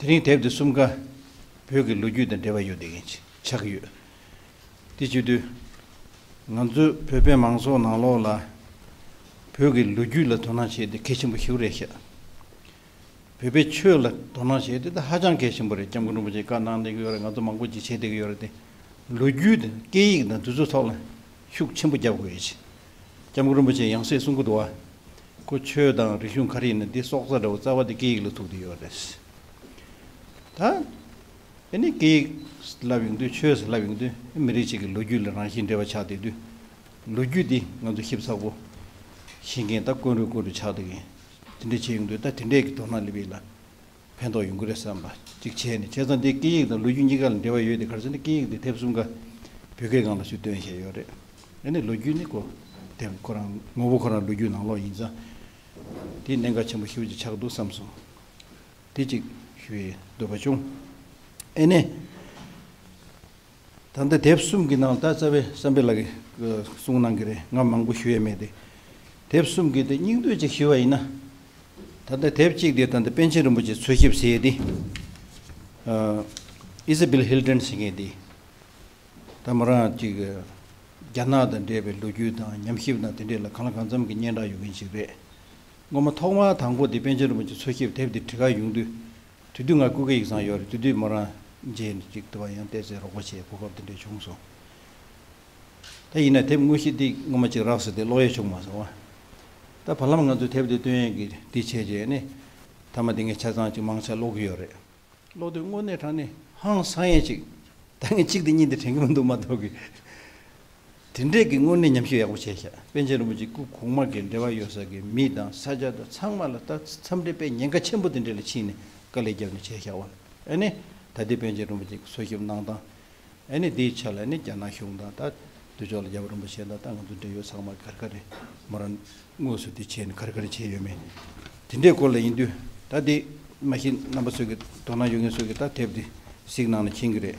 དེ་རིང་དེབ་འདི་གསུམ་ཀ་བོད་ཀྱི་ལོ་རྒྱུས་དང་འབྲེལ་བ་ཡོད་དེ་ཆགས་ཀྱི་ཡོད། དེ་བརྗོད་དུས། ང་ཚོས་བོད་པའི་མང་ཚོགས་ནང་ལོགས་ལ་བོད་ཀྱི་ལོ་རྒྱུས་ལ་དོ་སྣང་བྱེད་དེ་གལ་ཆེན་པོ་ཞིག་རེད་བཤད། བོད་པའི་ཆོས་ལ་དོ་སྣང་བྱེད་དེ་ད་ཧ་ཅང་གལ་ཆེན་པོ་རེད་སྐྱབས་མགོན་རིན་པོ་ཆེ་བཀའ་གནང་བསྡད་ཀྱི་ཡོད་རེད་ང་ཚོ་མང་པོ་ཅིག་བྱེད་བསྡད་ཀྱི་ཡོད་རེད་དེ། ལོ་རྒྱུས་དང་སྐད་ཡིག་དང་དུས་ཚོད་ཐོག་ལ་ཤུགས་ཆེན་པོ་རྒྱབ་དགོས་ཡོད། སྐྱབས་མགོན་རིན་པོ་ཆེ་ཡང་སྲིད་གསུང་སྐུ་བསྡུ་བ། ཁོ་ཆོས་དང་རིག་གཞུང་ག་རེ་ཡིན་ན་དེ་སྲོག་རྩ་འདྲ་བོ་རྩ་བ་དེ་སྐད་ཡིག་ལ་ཐུག་དེ་ཡོད་རེད། ད་དེ་ནི་སྐད་ཡིག་བསླབ་ཡོང་དུས་ཆོས་བསླབ་ཡོང་དུས་མི་རིགས་གཅིག་གི་ལོ་རྒྱུས་ལ་རང་བཞིན་འབྲེལ་བ་ཆགས་བསྡད་དུས་ལོ་རྒྱུས་དེ་ང་ཚོ་ཞིབ་ཚགས་པོ་ཤེས་མཁན་ད་དཀོན་རུས་དཀོན་རུས་ཆགས་བསྡད་མཁན་དེ་འདྲ་བྱས་ཡོང་དུས་ད་དེ་འདྲས་ཀྱི་དོ་སྣང་སླེབས་ཡོད་ལ། ཕན་ཐོགས་ཡོང་གི་རེད་བསམ་པ་ཅིག་བྱས་ནས་བྱས་ཙང་དེ་སྐད་ཡིག་དང་ལོ་རྒྱུས་གཉིས་ཀ་ལ་འབྲེལ་བ་ཡོད་དེ་གར་སོང་ནས་སྐད་ཡིག་འདི་དེབ་གསུམ་ཀ་བོད་སྐད་སྒང་ལ་ཞུ་འདོན་བྱས་ཡོད་རེད། ཨ་ནི་ལོ་རྒྱུས་ནི་ཁོ་དེབ་ཁོ་རང་ངོ་བོ་ཁོ་རང་ལོ་རྒྱུས་ནང་ལོག་ཡིན་ཙང་དེ་གནད་འགག་ཆེན་པོ་ཞིག་ཆགས་འདུག་བསམ་སོང། དེ་ཅིག་ཞུ་ཡི་འདོད་པ་བྱུང། ཨ་ནི། ད་ལྟ་དེབ་གསུམ་གྱི་ནང་ད་རྩ་བའི་བསམ་འཕེལ་ལགས་ཀྱི་གསུང་གནང་གི་རེད་ང་མང་པོ་ཞུ་ཡས་མེད་དེ། དེབ་གསུམ་གྱི་དེ་སྙིང་བསྡུས་ཅིག་ཞུས་བ་ཡིན་ན། ད་ལྟ་དེབ་གཅིག་དེ་ད་ལྟ་པཎ་ཆེན་རིན་པོ་ཆེ་འཚོལ་ཞིབ་བྱས་དེ། Isabel Hilton ཟེར་མཁན་དེ། ད་མོ་རང་ཅིག་རྒྱ་ནག་དང་འདྲེས་པའི་ལོ་རྒྱུས་དང་ཉམས་ཞིབ་དང་དེ་འདྲས་ལ་གང་ལ་གང་འཚམ་གྱི་སྙན་གྲགས་ཡོད་མཁན་ཞིག་རེད། སྔོན་མ་ཐོག་མར་དང་པོ་དེ་པཎ་ཆེན་རིན་པོ་ཆེ་འཚོལ་ཞིབ་དེབ་དེ་བྲི་ག་ཡོང་དུས། དུས་དུས་ང་ཀུ་ཀེ་ཡིག་ཚང་ཡོད་རེད་དུས་དུས་མོ་རང་རྗེས་ནས་ཅིག་ལྟོ་བ་ཡང་བལྟས་ཚེ་རོགས་པ་བྱེད་གོ་སྐབས་དེ་འདྲས་བྱུང་སོང། ད་ཡིན་ན་དེབ་དངོས་གཞི་འདི་སྔོན་མ་ཅིག་རགས་ཟེར་ཏེ་ཀློག་ཡས་བྱུང་མ་སོང་བ། ད་བར་ལམ་ང་ཚོས་དེབ་དེ་བཏོན་ཡས་ཀྱི་འདི་བྱས་རྗེས་ནི། མཐའ་མ་དེ་ངས་ཆ་ཚང་ཅིག་མང་ཆ་ཀློག་གི་ཡོད་རེད། ཀློག་དུས་དངོས་གནས་དྲང་ནས་ཧང་སང་ཡས་ཅིག། ད་ངས་གཅིག་དེ་གཉིས་དེ་དྲན་གི་མི་འདུག་མ་གཏོགས་ཀི། དེ་འབྲེལ་གྱི་དངོས་གནས་ཉམས་ཞིབ་ཡག་པོ་བྱས་ཤག་པན་ཆེན་རིན་པོ་ཆེ་སྐུ་གོང་མ་གིས་འབྲེལ་བ་ཡོད་ས་ཀྱི་མི་དང་ས་ཆ་དང་ཚང་མ་ལ་ལྟ་འཚམས་འབྲེལ་པས་ཉེན་ཁ་ཆེན་པོ་དེ་འདྲེ་ལ་ཕྱིན་ནས་དཀའ་ལས་རྒྱབ་ནས་བྱས་ཤག་བན་ཨ་ནི་ད་ལྟའི་པན་ཆེན་རིན་པོ་ཆེ་གི་སོ་ཞིབ་གནང་སྟངས་ཨ་ནི་དེའི་ཆ་ལ་ནི་རྒྱ་ནག་གཞུང་དང་ད་འདོད་ཕྱོགས་ལ་རྒྱ་བོད་རིན་པོ་ཆེན་དང་ད་ང་ཚོ་འབྲེལ་ཡོད་ཚང་མ་གར་གར་རེད་མོ་ར་དངོས་སུ་དེ་བྱས་ནས་གར་གར་བྱས་ཡོད་མེད་དེ་འདྲའི་སྐོར་ལ་ཡིན་དུས་ད་དེ་མ་ཤེས་རྣམ་པ་ཚོས་ཀྱི་དོ་སྣང་ཡོད་མཁན་ཚོས་ཀྱི་ད་དེབ་དེ་གཟིགས་གནང་ན་ཕྱིན་གྱི་རེད།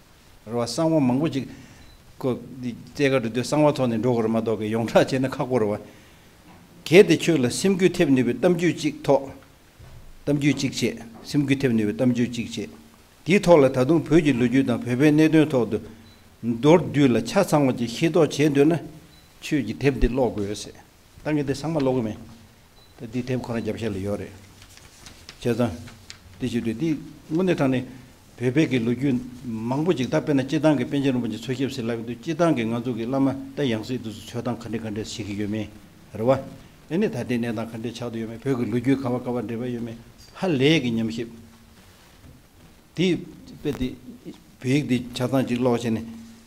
རེ་བ་གསང་བ་མང་པོ་ཅིག། ཁོ། རྩེ་དགའ་འགྲོ་དོན་གསང་བ་ཐོག་ནས་འགྲོ་གར་མ་གཏོགས་ཀྱི་ཡོངས་གྲགས་བྱས་ན་ཁག་པོ་རེ་བ། གལ་ཏེ་ཁྱོད་ལ་སེམས་འགུལ་ཐེབས་ནུས་པའི་གཏམ་རྒྱུད་ཅིག་ཐོག། གཏམ་རྒྱུད་ཅིག་བྱས། སེམས་འགུལ་ཐེབས་ནུས་པའི་གཏམ་རྒྱུད་ཅིག་བྱས། དེའི་ཐོག་ལ་ད་དུང་བོད་ཀྱི་ལོ་རྒྱུས་དང་བོད་པའི་གནད་དོན་ཐོག་ཏུ། མདོར་བསྡུས་ལ་ཆ་ཚང་བ་ཅིག་ཤེས་རྟོགས་བྱེད་འདོད་ན། ཁྱོད་ཀྱིས་དེབ་འདི་ཀློག་དགོས། ད་ངས་དེ་ཚང་མ་ཀློག་གི་མིན། ད་འདི་དེབ་ཁོ་རང་རྒྱབ་བཤད་ལ་ཡོད་རེད། བྱས་ཙང། འདི་ཞིག་དུས་འདི་དངོས་གནས་དྲང་ནས། བོད་པའི་གི་ལོ་རྒྱུས། མང་པོ་ཅིག་ད་དཔེར་ན་སྤྱི་བཏང་གི་པན་ཆེན་རིན་པོ་ཆེ་འཚོལ་ཞིབ་ཟེར་ལབ་ཡོད་དུས་སྤྱི་བཏང་གི་ང་ཚོ་གི་བླ་མ་ད་ཡང་སྲིད་དུ་སུ་འཚོལ་སྟངས་ག་འདྲེ་ག་འདྲེ་བྱེད་ཀྱི་ཡོད་མེད། རེད་བ། དེ་ནས་ད་ལྟའི་གནས་སྟངས་ག་འདྲེ་ཆགས་དུ་ཡོད་མེད་བོད་གི་ལོ་རྒྱུས་ག་བ་ག་བ་འདྲེ་བ་ཡོད་མེད་ཧ་ལས་གི་ཉམས་ཞིབ། དེ་དཔེ་དེ། བོད་ཡིག་དེ་ཆ་ཚང་ཅིག་ཀློག་བྱས་ནས།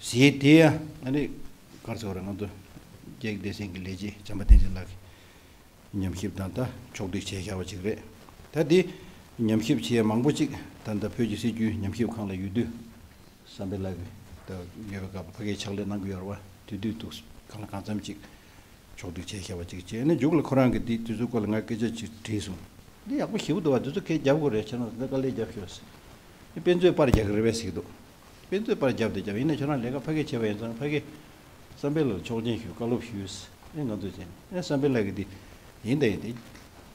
ཞེས་དེ་ཡང་ཨ་རིག་དཀར་ཚེ་བ་རང་དུ་རྒྱལ་བདེ་ཆེན་གྱི་ལས་བྱེད་བྱམས་པ་བསྟན་འཛིན་ལགས་ཀྱིས་ཉམས་ཞིབ་དང་ལྟ་ཕྱོགས་སྒྲིག་བྱས་ཤར་བ་ཅིག་རེད། ད་དེ་ཉམས་ཞིབ་བྱེད་ཡ་མང་པོ་ཅིག་ད་ལྟ་བོད་ཀྱི་སྲིད་བྱུས་ཉམས་ཞིབ་ཁང་ལ་ཡོད་དུས་བསམ་པའི་ལགས་ཀྱིས་ད་ཡོད་པའི་སྐབས་ཕ་གའི་ཕྱག་ལས་གནང་གི་ཡོད་ར་བ་དེ་དུས་ཐུགས་གང་ལ་གང་འཚམ་ཅིག་ཕྱོགས་སྒྲིག་བྱས་ཤར་བ་ཅིག་བྱས་ནས་མཇུག་ལ་ཁོ་རང་གིས་དེ་དུས་ཚོད་སྐོར་ལ་ང་སྐད་ཆ་ཅིག་དྲིས་སོང། འདི་ཡག་པོ་ཞིབ་འདུག་བ་དེ་ཚོ་སྐད་རྒྱབ་དགོས་རེད་བྱས་ན་ད་དཀའ་ལས་རྒྱབ་ཤོག་ཟེར། དཔེ་མཛོད་པར་རྒྱག་གི་རེད་བས་ཟིག་འདུག། དཔེ་མཛོད་པར་བརྒྱབ་སྟེ་ཀྱང་ཡིན་ན་ཁྱོད་རང་ལས་ཀ་ཕ་གིས་བྱས་པ་ཡིན་ཙང་ཕ་གིས་བསམ་འཕེལ་ལ་ཆོག་མཆན་ཞུ་བཀའ་སློབ་ཞུས། ཨེ་ང་ཚོ་བྱས་ནས་ཨེ་བསམ་འཕེལ་ལགས་ཀྱིས་དེ་ཡིན་ད་ཡིན་དེ་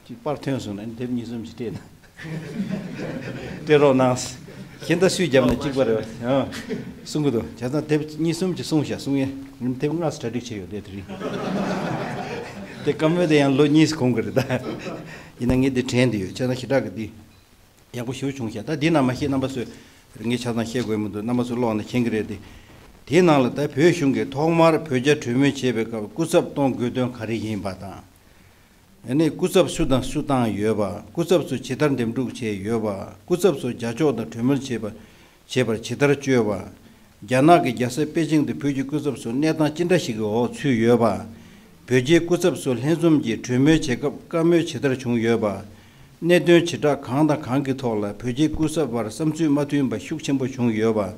ཅི་པར་ཐོན་སོང་ན་ཨེ་དེབ་གཉིས་གསུམ་ཞིག་སྤྲད་ན་སྤྲད་རོགས་གནང། ཞེ་འདའ་སུས་བརྒྱབ་ན་གཅིག་པར་གསུང་གི་འདུག་བྱས་ཙང་དེབ་གཉིས་གསུམ་ཅིག་གསུང་ཞེས་གསུང་ཡས་ཡིན་དེབ་ལྔ་གྲ་སྒྲིག་བྱས་ཡོད་དེ་རིང་དེ་བཀའ་མོལ་དེ་ཡང་ལོ་གཉིས་གོང་གི་རེད་ད། ཡིན་ན་ངས་དེ་དྲན་དུ་ཡོད་བྱས་ཙང་ཞི་དྲག་གིས་དེ། ཡག་པོ་ཞུ་བྱུང་བཤད་ད་འདི་རྣམས་མ་ཤེས་རྣམ་པ་སུས་ངས་ཆ་ཚང་བཤད་དགོས་མི་འདུག་རྣམ་པ་སུས་ཀློག་ནས་མཁྱེན་གི་རེད་དེ། དེའི་ནང་ལ་ད་བོད་གཞུང་གིས་ཐོག་མར་བོད་རྒྱ་གྲོས་མོལ་བྱེད་པའི་སྐབས་སྐུ་ཚབ་གཏོང་དགོས་དོན་ག་རེ་ཡིན་པ་དང། ཡང་ན་སྐུ་ཚབ་སུ་དང་སུ་བཏང་ཡོད་པ་སྐུ་ཚབ་ཚོ་ཇི་ལྟར་འདེམས་སྒྲུག་བྱས་ཡོད་པ་སྐུ་ཚབ་ཚོ་རྒྱ་ཕྱོགས་དང་གྲོས་མོལ་བྱེད་པ་བྱེད་པར་ཇི་ལྟར་བཅོལ་བ། རྒྱ་ནག་གི་རྒྱལ་ས་པེ་ཅིང་དུ་བོད་ཀྱི་སྐུ་ཚབ་ཚོ་གནས་སྟངས་ཅི་འདྲ་ཞིག་གི་འོག་ཚུད་ཡོད་པ། བོད་རྒྱའི་སྐུ་ཚབ་ཚོ་ལྷན་འཛོམས་ཀྱིས་གྲོས་མོལ་བྱེད་སྐབས་བཀའ་མོལ་ཇི་ལྟར་བྱུང་ཡོད་པ། གནད་དོན་བྱེ་བྲག་གང་དང་གང་གི་ཐོག་ལ་བོད་རྒྱའི་སྐུ་ཚབ་བར་བསམ་ཚུལ་མ་མཐུན་པ་ཤུགས་ཆེན་པོ་བྱུང་ཡོད་པ།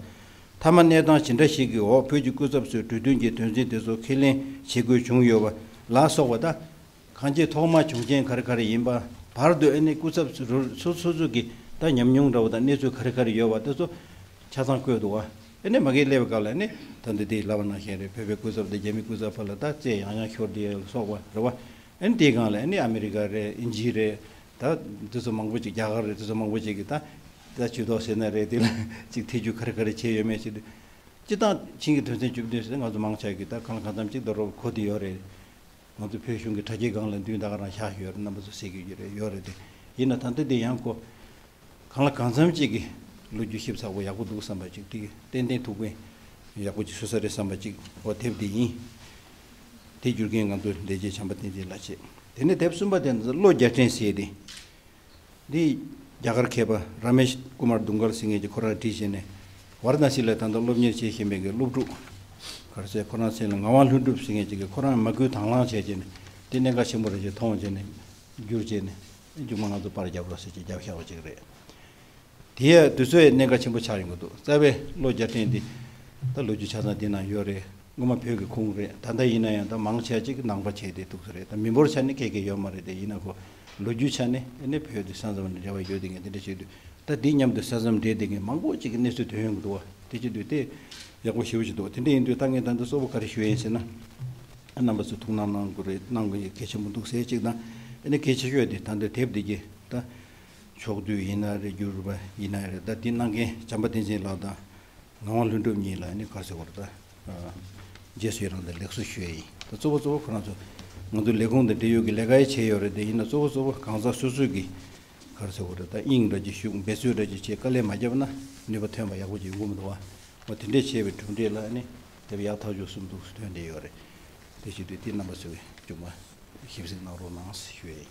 མཐའ་མ་གནས་སྟངས་ཇི་འདྲ་ཞིག་གི་འོག་བོད་ཀྱི་སྐུ་ཚབ་ཚོས་གྲོས་མཐུན་གྱི་དོན་ཚན་དེ་ཚོ་ཁས་ལེན་བྱེད་དགོས་བྱུང་ཡོད་པ་ལ་སོགས་པ་དང། གང་ཁྱེད་ཐོག་མ་བྱུང་རྐྱེན་ག་རེ་ག་རེ་ཡིན་པ་བར་དོའི་གནས་སྐུ་ཚབ་ཚོ་ཚོ་ཚོ་གི་ད་ཉམས་མྱོང་འདྲ་བོ་དང་གནས་ཚུལ་ག་རེ་ག་རེ་ཡོད་བ་དེ་ཚོ་ཆ་ཚང་བཀོད་འདུག་བ་ནས་མ་གིས་སླེབས་སྐབས་ལ་ནི་ད་འདི་དེ་ལབ་པ་ནང་བཞིན་རེད་བོད་པའི་སྐུ་ཚབ་དང་རྒྱ་མི་སྐུ་ཚབ་བར་ལ་ད་རྩེད་ཡང་ཡང་ཤོར་དེ་ལ་སོགས་པ་རེད་བ་ནི་དེ་གང་ལ་ནི་ཨ་མི་རི་ཀ་རེད་ཨིན་ཇི་རེད་ད་འདི་ཚོ་མང་པོ་ཅིག་རྒྱ་གར་རེད་དེ་ཚོ་མང་པོ་ཅིག་གིས་ད་ད་ཇུས་གཏོགས་ཟེར་ན་རེད་དེ་ལ་ཅིག་ཐེ་ཇུས་ག་རེ་ག་རེ་བྱས་ཡོད་མེད་ཞིག་དེ་སྤྱི་སྟངས་ཕྱིན་གྱི་དོན་ཚན་བཅུ་བདུན་ཟེར་ང་ཚོ་མང་ཆགས་ཀྱིས་ད་གང་ལ་གང་འཚམ་ཅིག་ད་རོགས་གོ་དེ་ཡོད་རེད་ང་ཚོ་བོད་གཞུང་གི་དྲ་རྒྱའི་སྒང་ལ་མདུན་ད་ག་རང་བཞག་ཡོད་རེད་རྣམ་པ་ཚོ་ཟེར་གྱི་ཡོད་རེད་ཡོད་རེད་དེ་ཡིན་ན་ད་འདི་འདི་ཡང་ཀོ། གང་ལ་གང་འཚམ་ཅིག་གིས་ལོ་རྒྱུས་ཞིབ་ཚགས་པོ་ཡག་པོ་འདུག་བསམ་པ་ཅིག་དེ་ཏན་ཏན་ཐུགས་ཕན་ཡག་པོ་ཅིག་བཟོས་ས་རེད་བསམ་པ་ཅིག་ཨོ་དེབ་འདི་ཡིན། དེ་བསྒྱུར་མཁན་ང་ཚོ་འདས་རྗེས་བྱམས་པ་བསྟན་འཛིན་ལགས་བྱས་དེ་ནས་དེབ་གསུམ་པ་དེ་ནི་བློ་རྒྱ་ཕྲན་བསྲེས་ཏེ་འདི་ཡིས་རྒྱ་གར་མཁས་པ་རཱ་མེ་ཤ་ཀུ་མར་དུང་དཀར་སིང་ངེ་ཀྱི་ཁོ་རང་བྲིས་བྱས་ནས་བར་ན་ཤི་ལའི་ཐང་དུ་སློབ་གཉེར་བྱེད་བཞིན་པའི་གི་སློབ་ཕྲུག་གར་སའི་ཁོ་རང་མཚན་ལ་ངག་དབང་ལྷུན་གྲུབ་སིང་ངེ་ཅིག་གིས་ཁོ་རང་མ་སྐུལ་དྭང་བླང་བྱས་བྱས་ནས་འདི་གནད་འགག་ཆེན་པོ་རེད་ཅེས་མཐོང་བྱས་ནས་བསྒྱུར་བྱས་ནས་རྒྱུགས་མ་ང་ཚོ་པར་རྒྱབ་རོགས་ཟེར་གྱིས་རྒྱབ་ཤག་པ་ཅིག་རེད། དེ་ཡང་དུས་ཚོད་གནད་འགག་ཆེན་པོ་ཆགས་ཡོང་གི་འདུག་རྩ་བའི་ལོ་བརྒྱ་ཕྲན་དེ་ད་ལོ་རྒྱུ་ཆ་ཚང་འདི་ན་ཡོད་རེད་སྔོན་མ་བོད་ཀྱི་ཁུངས་རེད་ད་ལྟ་ཡིན་ན་ཡང་ད་མང་ཆེ་གཅིག་ནང་པ་བྱས་ཏེ་འདུག་ས་རེད་ད་མི་འབོར་ཆ་ནས་ཁེ་ཁེ་ཡོད་མ་རེད་དེ་ཡིན་ན་གོ་ལོ་རྒྱུ་ཆ་ནས་ནས་བོད་དེ་ས་མཚམས་ནས་འབྲེལ་བ་ཡོད་དེ་ངས་དེ་འདྲ་བྱས་དུས་ད་དེ་མཉམ་དུ་ས་མཚམས་འབྲེལ་དེ་ངས་མང་པོ་གཅིག་གི་གནས་ཚུལ་དོན་ཡོང་གི་འདུག་བ་དེ་བྱས་དུས་དེ་ཡག་པོ་ཞེ་བོ་ཞིག་འདུག་དེ་འདྲ་ཡིན་དུས་ད་ངས་ད་འདི་གཙོ་བོ་ག་རེ་ཞུ་ཡིན་ཟེར་ན། རྣམ་པ་ཚོས་ཐུགས་སྣང་གནང་དགོས་རེད་གནང་གི་གལ་ཆེན་པོ་འདུག་ཟེར་གཅིག་དང་ནས་གལ་ཆེ་ཤོས་དེ་ད་འདི་དེབ་འདི་གྱིས་ད་ཆོག་དུས་ཡིན་ན་རེད་བསྒྱུར་བ་ཡིན་ན་རེད་ད་དེ་གནང་མཁན་བྱམས་པ་བསྟན་འཛིན་ལགས་དང་ངག་དབང་ལྷུན་གྲུབ་གཉིས་ལ་ནི་དཀར་ཟེར་བར་ད་རྗེས་སུ་ཡི་རང་དང་ལེགས་སོ་ཞུ་ཡ་ཡིན་ད་གཙོ་བོ་གཙོ་བོ་ཁོ་རང་ཚོ་ང་ཚོ་ལས་ཁུངས་དང་འབྲེལ་ཡོད་ཀྱི་ལས་ཀ་ཡི་བྱས་ཡོད་རེད་ད་ཡིན་ན་གཙོ་བོ་གཙོ་བོ་གང་ཟག་སོ་སོས་ཀྱིས་དཀར་ཟེར་བར་རེད་ད་དབྱིངས་འགྲོ་རྗེས་ཤུགས་འབད་རྩོལ་རེ་བྱེད་ཆེད་དཀའ་ལས་མ་བརྒྱབ་ན་ནུས་པ་ཐོན་པ་ཡག་པོ་ཅིག་འགུག་མི་འདུག་བ་འོ་དེ་འདྲས་བྱས་པའི་གྲུབ་འབྲས་ལ་ནི་དེ་བས་ཡག་ཐག་ཆོད་གསུམ་འདུག་དོན་དེ་ཡོད་རེད་དེ་བྱས་དུས་དེ་རྣམ་པ་ཚོས་ཅུང་མ་ཞིབ་གཟིགས་གནང་རོགས་གནང་ཞུ་ཡ་ཡིན།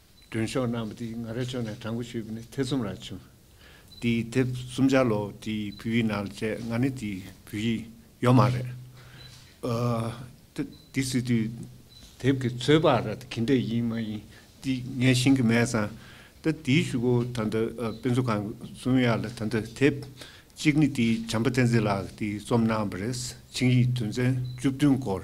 སྒྲོན་ཤོག་རྣམས་པ་དེའི་ང་ར་ཕྱོགས་ནས་བྲང་ཁུ་བྱུས་པ་ནི་ཐེ་ཚོམ་ར་བྱུང། དེའི་དེབ་གསུམ་ཆ་ལོ་དེའི་བུ་ཡིག་ནང་ལ་བཅད་ང་ནི་དེའི་བུ་ཡིག་ཡོད་མ་རེད། དེ་སྲིད་དུས་དེབ་ཀྱི་ཚོད་དཔག་ར་དེ་གིན་འདྲ་ཡིན་མ་ཡིན་དེ་ངས་ཤེས་ཀྱི་མེད་ཙང། ད་དེའི་ཤུ་གུ་ད་ལྟ་དཔེ་མཛོད་ཁང་གི་གསུང་ཡ་ལ་ད་ལྟ་དེབ་གཅིག་ནི་དེའི་བྱམས་པ་བསྟན་འཛིན་ལགས་ཀྱིས་བརྩོམས་གནང་བ་རེད་ཆིངས་ཡིག་དོན་ཚན་བཅུ་བདུན་སྐོར།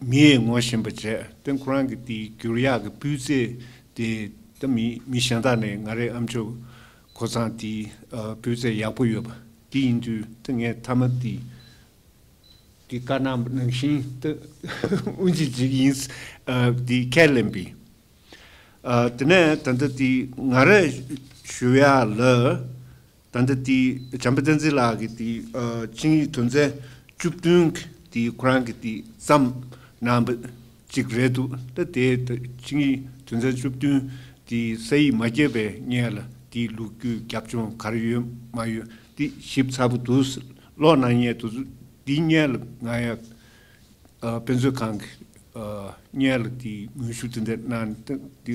མིའི་ངོ་བཞིན་པ་བཅས་སྟེང་ཁོ་རང་གི་དེའི་བསྒྱུར་ཡག་གི་སྤུས་ཚད་དེ་ད་མི་མི་གཞན་དག་ནས་ང་རེ་ཨ་མཆོག་ཁོ་ཚང་དེའི་སྤུས་ཚད་ཡག་པོ་ཡོད་པ་དེ་ཡིན་དུས་ད་ངས་མཐའ་མ་དེ་དེ་བཀའ་གནང་ནང་བཞིན་ད་དབུ་འབྱེད་བྱེད་ཀྱི་ཡིན་དེ་ཁས་ལེན་པས། དེ་ནས་ད་ལྟ་དེ་ང་རེ་ཞུ་ཡག་ལ་ད་འདི་དེའི་བྱམས་པ་བསྟན་འཛིན་ལགས་ཀྱི་དེའི་ཆིངས་ཡིག་དོན་ཚན་བཅུ་བདུན་གྱི་དེའི་ཁོ་རང་གི་དེའི་བརྩམས་གནང་བ་ཅིག་རེད་འདུག་ད་དེའི་ཆིངས་ཡིག་དོན་ཚན་བཅུ་བདུན་དེའི་ས་ཡིག་མ་བརྒྱད་པའི་སྙན་ལ་དེའི་ལུགས་རྒྱུའི་རྒྱབ་ལྗོངས་ག་རེ་ཡོད་མ་ཡོད་དེ་ཞིབ་ཚགས་པོ་དུ་ཀློག་གནང་ཉེ་དུ་དེའི་སྙན་ལ་ང་ཡང་དཔེ་མཛོད་ཁང་གི་སྙན་ལ་དེའི་ངོས་ཞུ་དེ་འདྲ་གནང་སྟངས་དེ་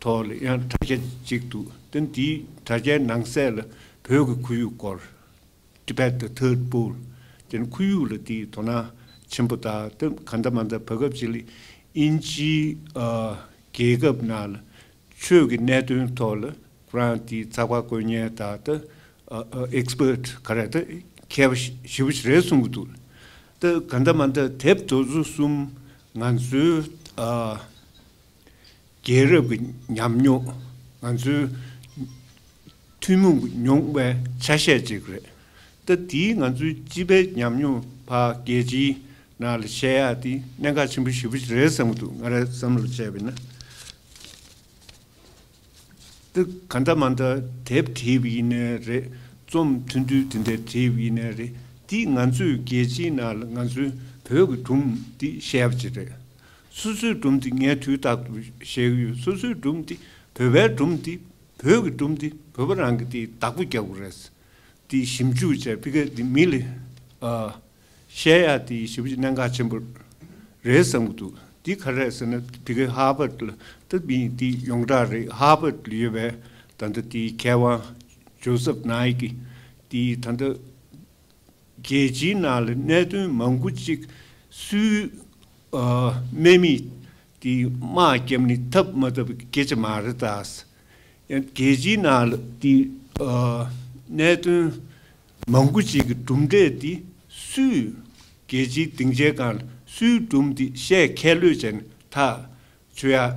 ཐོག་ལ་ཡང་དྲ་རྒྱ་གཅིག་འདུག་དེ་འདིའི་དྲ་རྒྱའི་ནང་གསལ་ལ་བོད་ཀྱི་ཁོར་ཡུག་སྐོར། Tibet the Third Pole། དེ་ནི་ཁོར་ཡུག་ལ་དེའི་དོ་སྣང་ཆེན་པོ་དག་དེ་ག་འདྲ་མ་འདྲ་བར་སྐབས་ཅིག་ལ་དབྱིན་ཇིའི་རྒྱལ་ཁབ་ནང་ལ་ཆོས་ཀྱི་གནད་དོན་ཐོག་ལ་ཁོ་རང་དེའི་ཚགས་པར་བཀོད་ཉན་དག་དེ Expert ག་རེ་དེ་མཁས་པ་ཞི་བ་ཞིག་རེད་གསུང་གི་འདུག་དེ་ག་འདྲ་མ་འདྲ་དེབ་དོ་བཟོ་གསུམ་ང་ཚོའི་རྒྱལ་རབས་ཀྱི་ཉམས་མྱོང་ང་ཚོའི་ཐུན་མོང་མྱོང་བའི་ཆ་ཤས་གཅིག་རེད། ད་དེའི་ང་ཚོའི་སྤྱི་པའི་ཉམས་མྱོང་ཕ་རྒྱལ་སྤྱིའི་ནང་ལ་བཤད་ཡག་དེ་གནད་འགག་ཆེན་པོ་བཞི་པོ་རེད་བསམ་གི་འདུག་ང་རང་བསམ་བློ་བྱས་པས་ན། ག་འདྲ་མ་འདྲ་དེབ་དེབ་ཡིན་ནའི་རེད་རྩོམ་ཐུང་ཐུང་དེ་འདྲའི་དེབ་ཡིན་ནའི་རེད་འདི་ང་ཚོས་རྒྱལ་སྤྱིའི་ནང་ལ་ང་ཚོའི་བོད་ཀྱི་སྒྲུང་འདི་བཤད་པ་ཅིག་རེད། སོ་སོའི་སྒྲུང་འདི་ངས་དུས་རྟག་ཏུ་བཤད་ཀྱི་ཡོད་སོ་སོའི་སྒྲུང་འདི་བོད་པའི་སྒྲུང་འདི་བོད་ཀྱི་སྒྲུང་འདི་བོད་པ་རང་གི་དེ་བདག་པོ་རྒྱག་དགོས་རེད། འདི་ཞིབ་འཇུག་བྱས་པི་ཀ་འདི་མི་ལས། བཤད་ཡ་དེ་ཞིབ་ཀྱི་གནད་འགག་ཆེན་པོ་རེད་བསམ་གྱི་འདུག་དེ་ག་རེད་ཟེར་ན་དེ་གའི་ཧར་བར་དུ་དེ་མིན་དེ་ཡོངས་གྲགས་རེད་ཧར་བར་དུ་ཡོད་པའི་ད་ལྟ་དེའི་མཁས་དབང Joseph Naik དེས་ད་ལྟ་རྒྱལ་སྤྱིའི་ནང་ལ་གནད་དོན་མང་པོ་གཅིག་སུའི་སྨན་མི་དེ་དམག་སྐྱབས་ནི་ཐབས་མ་ཐབས་ཀྱི་སྐད་ཆ་མ་རེད་ད། ཡང་རྒྱལ་སྤྱིའི་ནང་ལ་དེ་གནད་དོན་མང་པོ་ཅིག་གི་གྲུབ་འབྲས་འདི་སུས། རྒྱལ་སྤྱིའི་སྡིངས་ཆའི་སྒང་སུས་བསྒྲུབས་འདི་བཤད་མཁས་ལོས་ཅན་ཐག་ཆོད་ཡག་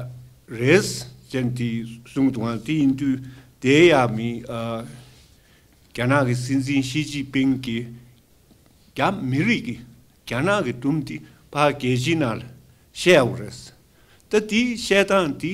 རེད། ཅན་དེའི་གསུང་དུའང་དེ་ཡིན་དུས་དེ་ཡག་མིན། རྒྱ་ནག་གི་སྲིད་འཛིན་ཞི་ཅིན་པིང་གིས་རྒྱ་མི་རིགས་ཀྱིས་རྒྱ་ནག་གི་གྲུབ་འདི་ཕ་རྒྱལ་ཕྱི་ནང་ལ་བཤད་ཡག་པོ་རེད། ད་དེའི་བཤད་སྟངས་འདི།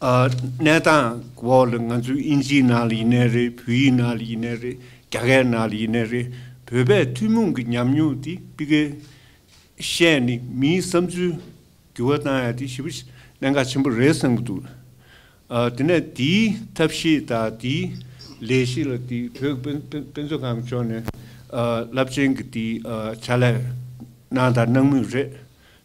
གནས་སྟངས་འོག་ལ་ང་ཚོས་དབྱིན་ཇིའི་ནང་ལ་ཡིན་ནའི་རེད་བོད་ཡིག་ནང་ལ་ཡིན་ནའི་རེད་རྒྱ་གར་ནང་ལ་ཡིན་ནའི་རེད་བོད་པའི་ཐུན་མོང་གི་ཉམས་མྱོང་དེ་སྤི་ཁའི་བཤད་ནས་མིའི་བསམ་ཚུལ་འགྱུར་བ་བཏང་ཡ་དེ་ཞི་བ་གནད་འགག་ཆེན་པོ་རེད་བསམ་གྱི་འདུག་དེ་ནས་དེའི་ཐབས་ཤེས་དང་དེའི་ལས་ཤེས་ལ་དེ་བོད་དཔེ་མཛོད་ཁང་གི་ཕྱོགས་ནས་རླབས་ཆེན་གྱི་དེའི་བྱ་ལས་གནང་དང་གནང་མུས་རེད་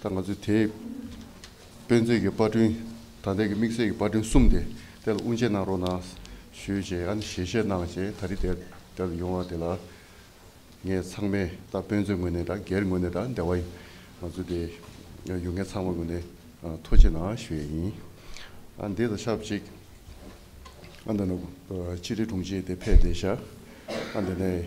ད་ང་ཚོས་དེ་དཔེ་མཛོད་ཀྱི་དཔར་སྐྲུན་དང་དེ་གི་དམིགས་བསལ་གྱི་དཔར་སྐྲུན་གསུམ་དེ་དེ་ལ་དབུ་འབྱེད་གནང་རོགས་གནང་ཞུ་ཞེས་ཡང་ཞལ་བཞེས་གནང་རྗེས་ད་རི་དེ་དེར་ཡོང་བ་དེ་ལ་ངས་ཚང་མས་ད་དཔེ་མཛོད་ངོས་ནས་དང་སྒེར་ངོས་ནས་དང་སྡེ་བ་ང་ཚོ་དེ་ཡུལ་མཁན་ཚང་མ་ངོས་ནས་ཐུགས་ཆེ་གནང་ཞུ་ཡས་ཡིན། ཨ་འདི་ད་ཆབ་གཅིག་ཨ་འདི་ནི་སྤྱི་བདེ་དྲུང་ཆེ་དེ་ཕེབས་ཏེ་ཤ་ཨ་འདི་ནས།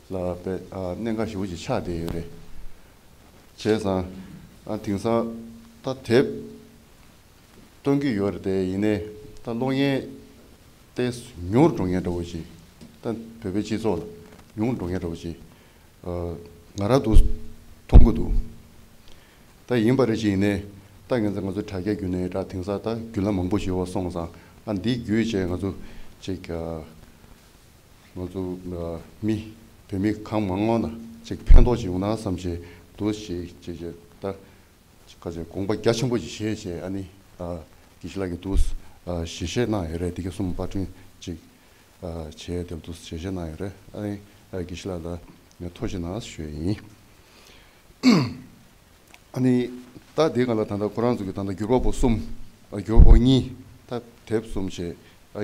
ལ་པའི་གནད་འགག་ཞུ་བཞིན་ཆགས་བསྡད་ཡོད་རེད། བྱས་ཙང་དེང་སང་ད་དེབ་སྟོན་གྱི་ཡོད་རེད། ཡིན་ནའི་ད་གློག་བརྙན་ཏེ་ཉུང་འགྲོ་ངེས་འདྲ་བོ་ཞིག་ད་བོད་པའི་སྤྱི་ཚོགས་ལ་ཉུང་འགྲོ་ངེས་འདྲ་བོ་ཞིག་ང་རང་དུ་མཐོང་གི་འདུག་ད་ཡིན་པ་རེད་ཞིག་ཡིན་ནའི་ད་ངེད་ཚོ་ང་ཚོ་དྲ་རྒྱ་བརྒྱུད་ནས་ད་དེང་སང་ད་བརྒྱུད་ལམ་མང་པོ་ཞིག་འོག་སོང་ཙང་འདི་བརྒྱུད་བྱས་ང་ཚོ་ཅིག། ང་ཚོ་མི་བོད་མི་གང་མང་ངོ་ན་ཅིག་ཕན་ཐོགས་ཅིག་ཡོང་ན་བསམ་བཞིན་དུ་ཞིག་ཅེས་ཀྱི་ད་ཁ་ཅིག་དགོངས་པ་རྒྱ་ཆེན་པོ་ཅིག་བཞེས་ཞེས་ཨ་ནི་དགེ་བཤེས་ལགས་ཀྱིས་འདུག་ཞལ་བཞེས་གནང་ཡོད་རེད་འདི་ག་སུམ་པ་བསྐྲུན་ཅིག་བྱས་ཏེ་འདུག་ཞལ་བཞེས་གནང་ཡོད་རེད་ཨ་ནི་དགེ་བཤེས་ལགས་ལ་ཐུགས་རྗེ་ནང་བཞུགས་ཡིན། ཨ་ནི། རྟགས་འདི་གང་ལ་ད་ལྟ་ཁོ་རང་ཚོ་གི་ད་ལྟ་འགྱུར་བ་པོ་གསུམ། འགྱུར་བ་པོ་གཉིས། ད་དེབ་གསུམ་བྱས།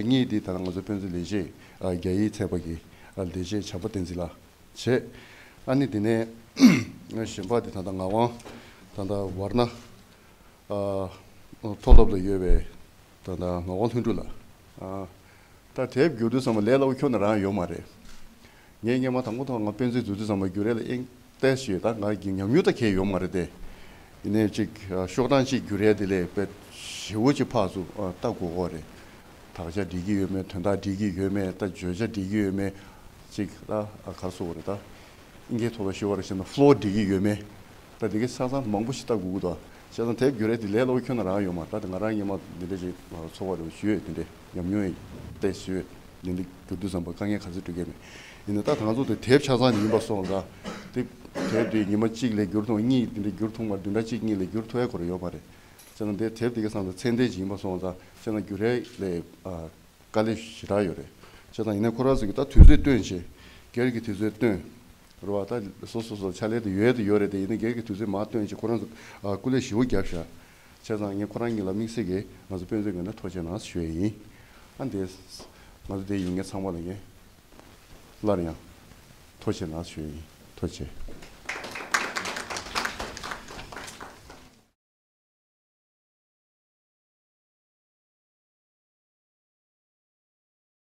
གཉིས་འདི་ད་ང་ཚོ་དཔོན་ཚོའི་ལས་བྱེད་རྒྱ་ཡིས་ཚད་པ་གི་ལས་བྱེད་བྱམས་པ་བསྟན་འཛིན་ལ་བྱས། ཨ་ནི་དེ་ནས་གཞན་པ་དེ་ད་ལྟ་ངག་དབང་ད་ལྟ་བར་ན་མཐོ་སློབ་ལ་ཡོད་པའི་ད་ལྟ་ངག་དབང་ལྷུན་གྲུབ་ལ། ད་དེབ་འགྱུར་དུས་སམ་ལས་སླ་བོ་ཁྱོད་ན་རང་ཡོད་མ་རེད། ངས་སྙན་མ་དང་པོ་ཐོག་ང་སྤེན་ཚེའི་རྫུན་རྩི་ཙམ་ལ་བསྒྱུར་རེ་ལ་ཨེ་གཏད་ཞེས་ད་ང་གིས་ཉམས་མྱོང་ལྟར་ཁེལ་ཡོད་མ་རེད་དེ། ཡིན་ནའི་ཅིག་ཤོག་གྲངས་གཅིག་བསྒྱུར་རེ་དེ་ལས་དཔེ་ཞེ་བོ་གཅིག་ཕག་ཟུག་ལྟ་དགོས་ཁོ་རེད། དག་ཆ་འགྲིག་གི་ཡོད་མེད་དོན་དག་འགྲིག་གི་ཡོད་མེད་ལྟ་བརྗོད་བྱ་འགྲིག་གི་ཡོད་མེད་ཅིག་ལྟ་གར་སོང་བ་རེད་ད། ཨིན་ཁའི་ཐོག་ལ་ཤི་བ་རེ་བྱས་ན floor འགྲིག་གི་ཡོད་མེད་ལྟ་དེ་གི་ས་ས་མང་པོ་ཞིག་ལྟ་དགོས་ཀི་འདུག་བྱས་ཙང་དེབ་བསྒྱུར་རེ་དེ་ལས་སླ་བོ་ཁྱོད་ན་རང་ཡོད་མ་ད་དེ་ང་རང་སྙན་མ་འདི་འདྲ་ཅིག་ཚོར་བ་རེ་བ་ཞུས་ཡོད་དེ་འདྲའི། ཉམས་མྱོང་ཡིན། པའི་སྲོལ་རྒྱུན་དུ་གྱུར་དུས་བསམ་པར་དཀའ་ངལ་ག་ཚོད་འཕྲད་ཀྱི་མེད། ཡིན་ནའི་ད་ཐང་ཚོགས་དེ་དེབ་ཆ་ཚང་ཡིན་པ་སོགས་འདྲ། དེ་དེབ་དེ་ཉི་མ་གཅིག་ལས་བསྒྱུར་ཐུང་གཉིས་དེ་འདྲ་བསྒྱུར་ཐུང་མར་བདུན་ཕྲག་གཅིག་གཉིས་ལས་བསྒྱུར་ཐུ་ཨའི་སྐོར་ཡོད་པ་རེད། སྤྱིར་ན་དེ་དེབ་དེ་གི་སང་དང་ཚན་དེ་བཞིན་ཡིན་པ་སོགས་འདྲ། སྤྱིར་ན་བསྒྱུར་རས་ལས་དཀའ་ལས་ཞེ་དྲག་ཡོད་རེད། བྱས་ཙང་ཡིན་ནའི་ཁོ་རང་ཚོ་གིས་ད་དུས་ཚོད་སྟོན་བྱེད། སྒེར་གྱི་དུས་ཚོད་སྟོན། རུ་བ་ད་བཟོ་བཟོ་བཟོ་བྱ་ལས་དེ་ཡོད་དེ་ཡོད་རེད་དེ་ཡིན་ནའི་སྒེར་གྱི་དུས་ཚོད་མ་སྟོན་བྱེད་ཁོ་རང་ཚོ་སྐུ་ལས་བཞི་བོ་རྒྱབ་བཞག་བྱས་ཙང་ངས་ཁོ་རང་གཉིས་ལ་དམིགས་བསལ་གྱིས་ང་ཚོ་དཔོན་ཚོའི་ངོས་ནས་ཐོ་ཆེན་ནང་ཞུས་ཡིན། ཨ་འདི། ང་ཚོ་དེ་ཡིན་ངེས་ཚང་མ་ལ་ངས། སླར་ཡང། ཐོ་ཆེན་ནང་ཞུས་ཡིན། ཐོ་ཆེ།